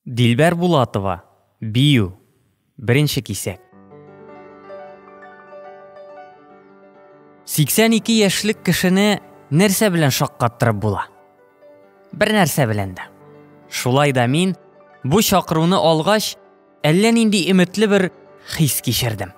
Дилбәр Булатова, бию, беренче кисәк. 82 яшьлек кешене нәрсә белән шаккаттырып була? Бер нәрсә белән дә. Шулай да мин бу чакыруны алгач, әллә нинди өметле бер хис кичердем.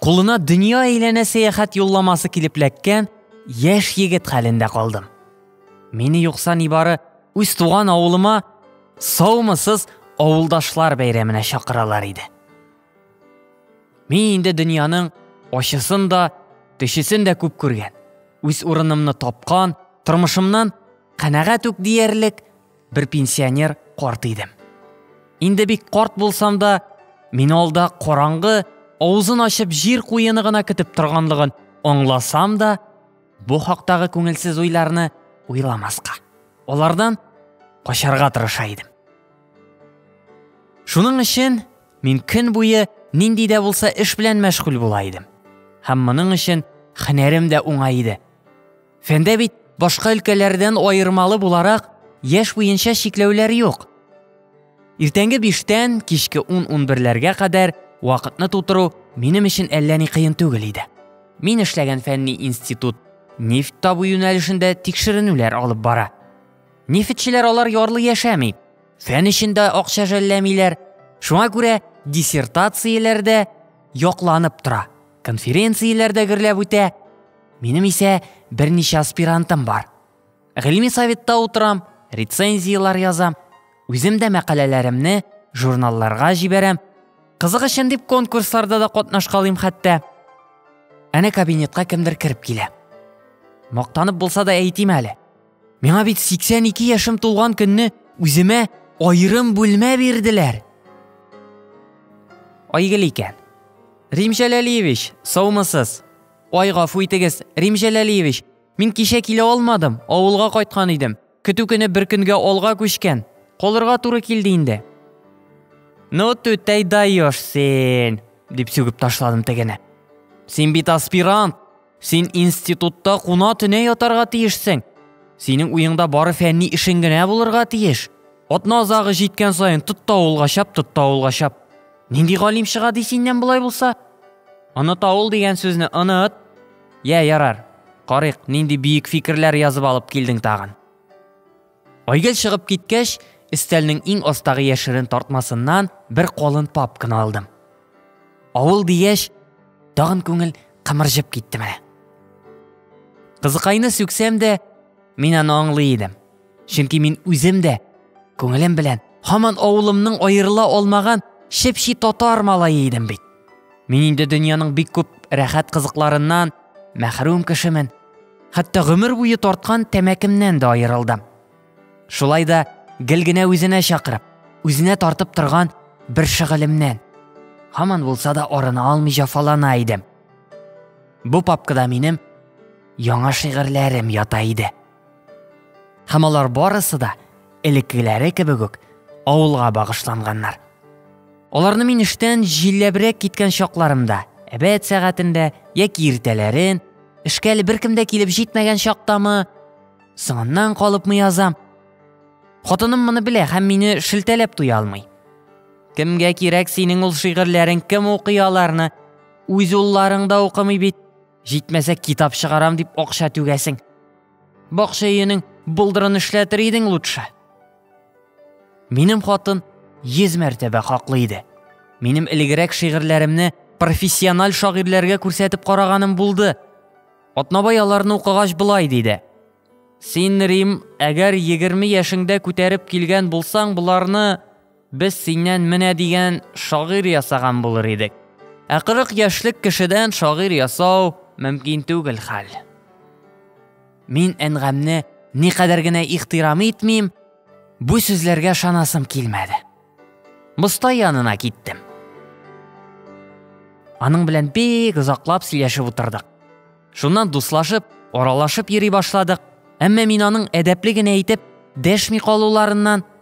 Кулына дөнья әйләнә сәяхәт юлламасы килеп ләккән яшь егет хәлендә калдым. Мине юкса нибары үз туган авылыма саумысыз авылдашлар бәйрәменә чакыралар иде. Мин инде дөньяның ачысын да, төчесен дә күп күргән. Үз урынымны тапкан, тормышымнан канәгать үк диярлек бер пенсионер карт идем. Инде бик карт булсам да, мин алда караңгы, авызын ачып җир куены гына көтеп торганлыгын аңласам да, бу хактагы күңелсез уйларны уйламаска, алардан качарга тырыша идем. Шуның өчен мин көн буе нинди дә булса эш белән мәшгуль була идем. Һәм моның өчен хәнәрем дә уңай иде. Фәндә бит башка өлкәләрдән аермалы буларак яшь буенча чикләүләр юк. Иртәнге биштән кичке ун унберләргә кадәр вакытны тутыру минем өчен әллә ни кыен түгел иде. Мин эшләгән фәнни институт нефть табу юнәлешендә тикшеренүләр алып бара. Нефтьчеләр алар ярлы яшәми, фән өчен дә акча жәлләмиләр. Шуңа күрә диссертацияләрдә якланып тора, конференцияләрдә гөрләп үтә, Минем исә берничә аспирантым бар. Гыйльми советта утырам, рецензияләр язам, үзем дә мәкаләләремне журналларга җибәрәм. Кызык өчен дип конкурсларда да катнашкалыйм хәтта. Әнә кабинетка кемдер кереп килә. Мактанып булса да әйтим әле. Миңа бит 82 яшем тулган көнне үземә аерым бүлмә бирделәр. Айгөл икән. Рим Җәләлиевич, саумысыз? Ай, гафу итегез, Рим Җәләлиевич, мин кичә килә алмадым, авылга кайткан идем. Көтү көне бер көнгә алга күчкән. Калырга туры килде инде. Ну, түтәй даешь син, дип сүгеп ташладым тегене. Син бит аспирант, син институтта куна төне ятарга тиешсең. Синең уеңда бары фәнни эшең генә булырга тиеш. Атна азагы җиткән саен тот та авылга чап, тот та авылга чап. Нинди галим чыга ди синнән болай булса? Оныта ул дигән сүзне оныт. Йә, ярар. Карыйк, нинди биек фикерләр язып алып килдең тагын. Айгел чыгып киткәч, өстәлнең иң астагы яшерен тартмасыннан бер калын папканы алдым. Авыл дигәч, тагын күңел кымырҗып китте менә. Кызыкайны сүксәм дә, мин аны аңлый идем. Чөнки мин үзем дә күңелем белән һаман авылымның аерыла алмаган чепчи татар малае идем бит. Мин инде дөньяның бик күп рәхәт кызыкларыннан мәхрүм кешемен. Хәтта гомер буе тарткан тәмәкемнән дә аерылдым. Шулай да гел генә үзенә чакырып, үзенә тартып торган бер шөгылемнән һаман булса да арына алмый җафалана идем. Бу папкада минем яңа шигырьләрем ята иде. Һәм алар барысы да элеккеләре кебек үк авылга багышланганнар. Аларны мин эштән җилләбрәк киткән чакларымда, әбәт сәгатендә яки иртәләрен, эшкә әле беркем дә килеп җитмәгән чактамы, соңыннан калыпмы язам. Хатыным моны белә һәм мине шелтәләп туя алмый. Кемгә кирәк синең ул шигырьләрең, кем укый аларны? Үз улларың да укымый бит. Җитмәсә, китап чыгарам дип акча түгәсең. Бакча өенең булдырын эшләтер идең лучше. Минем хатын йөз мәртәбә хаклы иде. Минем элегрәк шигырьләремне профессиональ шагыйрьләргә күрсәтеп караганым булды. Атнабай аларны укыгач болай диде. Син, Рим, әгәр 20 яшеңдә күтәреп килгән булсаң, боларны Без синнән менә дигән шагыйрь ясаган булыр идек. Ә 40 яшьлек кешедән шагыйрь ясау мөмкин түгел хәл. Мин әнгамне никадәр генә ихтирам итмим, бу сүзләргә шанасым килмәде. Мостай янына киттем. Аның белән бик озаклап сөйләшеп утырдык. Шуннан дуслашып, аралашып йөри башладык. Әмма мин аның әдәпле генә итеп дәшми калуларыннан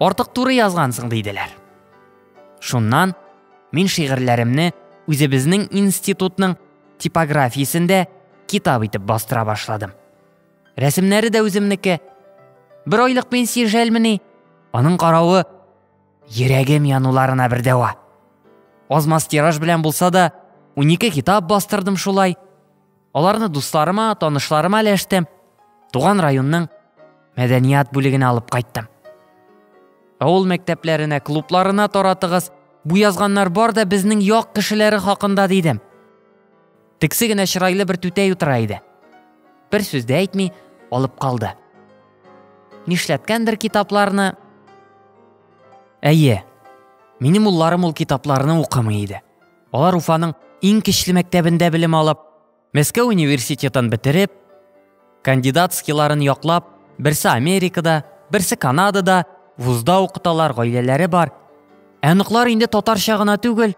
Артык туры язгансың диделәр. Шуннан мин шигырьләремне үзебезнең институтның типографиясендә китап итеп бастыра башладым. Рәсемнәре дә үземнеке. Бер айлык пенсия жәлмени? Аның каравы йөрәгем януларына бер дәва. Азмас тираж белән булса да, 12 китап бастырдым шулай. Аларны дусларыма, танышларыма өләштем. Туган районның мәдәният бүлегенә алып кайттым. Авыл мәктәпләренә, клубларына таратыгыз. Бу язганнар бар да безнең як кешеләре хакында дидем. Тексе генә чырайлы бер түтәй утыра иде. Бер сүз дә әйтми, алып калды. Нишләткәндер китапларны? Әйе. Минем улларым ул китапларны укымый иде. Алар Уфаның иң кечле мәктәбендә белем алып, Мәскәү университетын бетереп, кандидатскийларын яклап, берсе Америкада, берсе Канадада вузда укыталар, гаиләләре бар. Ә оныклар инде татарча гына түгел,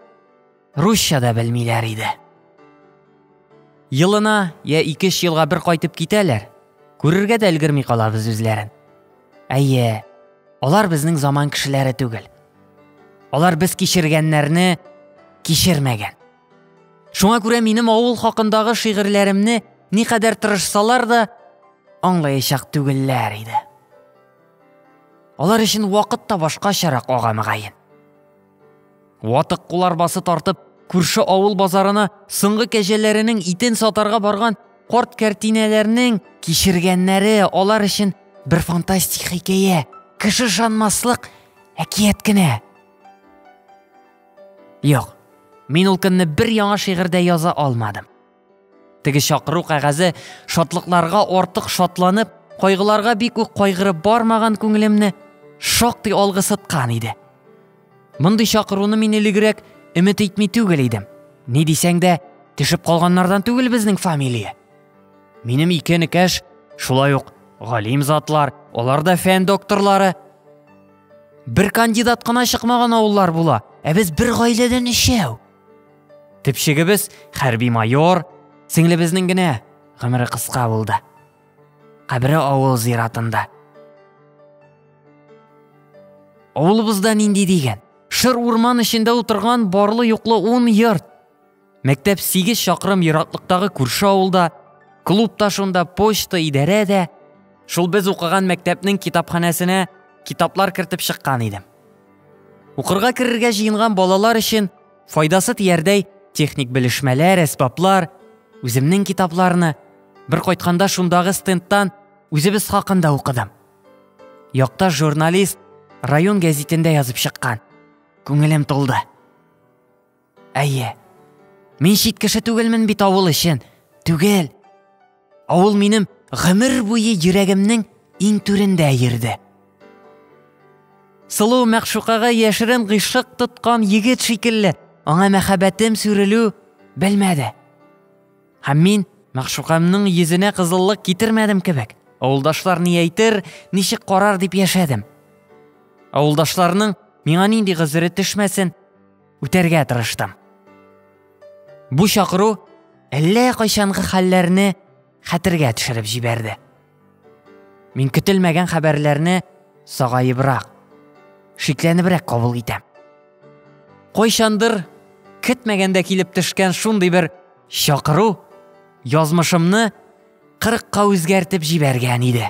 русча да белмиләр иде. Елына я ике өч елга бер кайтып китәләр. Күрергә дә өлгерми калабыз үзләрен. Әйе, алар безнең заман кешеләре түгел. Алар без кичергәннәрне кичермәгән. Шуңа күрә минем авыл хакындагы шигырьләремне никадәр тырышсалар да аңлаячак түгелләр иде. Алар өчен вакыт та башкачарак ага мөгаен. Ватык кул арбасы тартып, күрше авыл базарына соңгы кәҗәләренең итен сатарга барган карт кәртинәләрнең кичергәннәре алар өчен бер фантастик хикәя, кеше ышанмаслык Әкият кенә. Юк, мин ул көнне бер яңа шигырьдә яза алмадым. Теге чакыру кәгазе шатлыкларга артык шатланып, кайгыларга бик үк кайгырып бармаган күңелемне шактый алгысыткан иде. Мондый чакыруны мин элегрәк өмет итми түгел идем. Ни дисәң дә, төшеп калганнардан түгел безнең фамилия. Минем ике энекәш, шулай ук галим затлар, алар да фән докторлары. Бер кандидат кына чыкмаган авыллар була, ә без бер гаиләдән өчәү. Төпчегебез хәрби майор, сеңлебезнең генә гомере кыска булды. Кабере авыл зиратында. Авылыбызда нинди дигән? Шыр урман эчендә утырган барлы юклы ун йорт. Мәктәп 8 чакрым ераклыктагы күрше авылда, клуб та шунда, почта, идарә дә. Шул без укыган мәктәпнең китапханәсенә китаплар кертеп чыккан идем. Укырга керергә җыенган балалар өчен файдасы тиярдәй техник белешмәләр, әсбаплар, үземнең китапларны бер кайтканда шундагы стендтан үзебез хакында укыдым. Якта журналист район гәзитендә язып чыккан. Күңелем тулды. Әйе. Мин чит кеше түгелмен бит авыл өчен. Түгел. Авыл минем гомер буе йөрәгемнең иң түрендә йөрде. Сылу мәгъшукага яшерен гыйшык тоткан егет шикелле, аңа мәхәббәтем сүрелү белмәде. Һәм мин мәгъшукамның йөзенә кызыллык китермәдем кебек. Авылдашлар ни әйтер, ничек карар дип яшәдем. Авылдашларның миңа нинди гозере төшмәсен, үтәргә тырыштым. Бу чакыру әллә кайчангы хәлләрне хәтергә төшереп җибәрде. Мин көтелмәгән хәбәрләрне сагаебрак, шикләнебрәк кабул итәм. Кайчандыр көтмәгәндә килеп төшкән шундый бер чакыру язмышымны кырыкка үзгәртеп җибәргән иде.